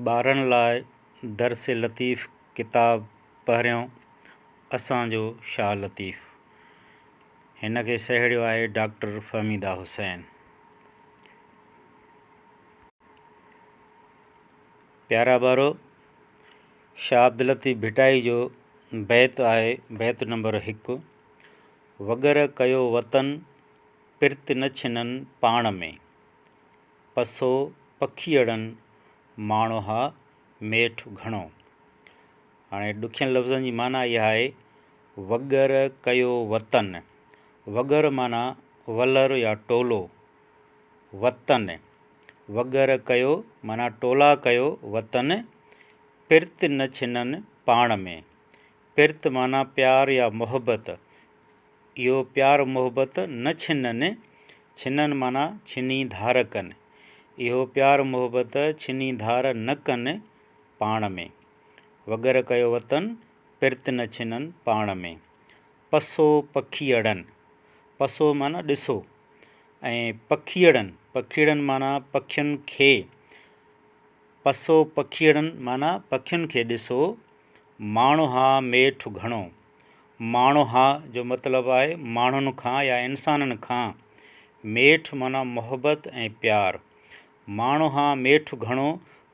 ٻارن لاء درس لطيف ڪتاب پهريون اسانجو شاهه لطيف هن کي سهيڙيو آهي ڊاڪٽر فهميده حسين پيارا ٻارو شاهه عبد لطيف ڀٽائي جو بيت آهي بيت نمبر هڪ وغيره ڪيو وطن پرت نه ڇنن پاڻ ۾. پسو پکيئڙن ماڻوها ميٺ گهڻو. هاڻي ڏکين لفظن جي معنيٰ اها آهي، وڳر ڪيو وطن، وڳر معنيٰ ولر يا ٽولو، وطن، وڳر ڪيو معنيٰ ٽولا ڪيو وطن، پرت نه ڇنن پاڻ ۾، پرت معنيٰ پيار يا محبت، اهو پيار محبت نه ڇنن، ڇنن معنيٰ ڇني ڌار ڪن. اهو پيار محبت ڇني ڌار نه ڪن پاڻ ۾. وڳر ڪيو وتن، پرت نه ڇنن پاڻ ۾. پسو پکيئڙن، پسو معنيٰ ڏسو، ۽ پکيئڙن، پکيئڙن معنيٰ پکين کي، پسو پکيئڙن معنيٰ پکين کي ڏسو، ماڻهاء ميٺ گهڻو، ماڻهاء جو مطلب آهي ماڻهن کان يا انسانن کان، ميٺ معنيٰ محبت ۽ پيار. ماڻهاء ميٺ گهڻو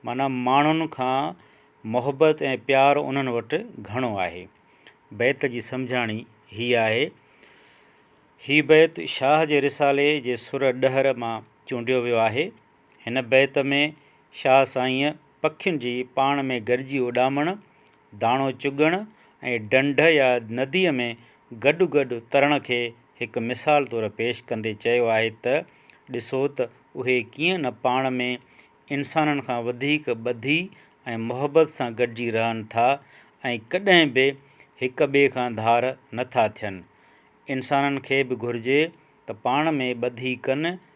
معنيٰ ماڻهن کان محبت ۽ پيار انهن وٽ گهڻو آهي. بيت جي سمجهاڻي هيء آهي. هي بيت شاهه جي رسالي جي سر ڏهر مان چونڊيو ويو آهي. هن بيت ۾ شاهه سائينء پکين جي پاڻ ۾ گڏجي اڏامڻ، داڻو چڳڻ ۽ ڍنڍ يا نديء ۾ گڏ گڏ ترڻ کي هڪ مثال طور پيش ڪندي چيو آهي ته، ڏسو ته اهي ڪيئن نه پاڻ ۾ انسانن کان وڌيڪ ٻڌي ۽ محبت سان گڏجي رهن ٿا ۽ ڪڏهن به هڪ ٻئي کان ڌار نه ٿا ٿين. انسانن کي به گهرجي ته پاڻ ۾ ٻڌي ڪن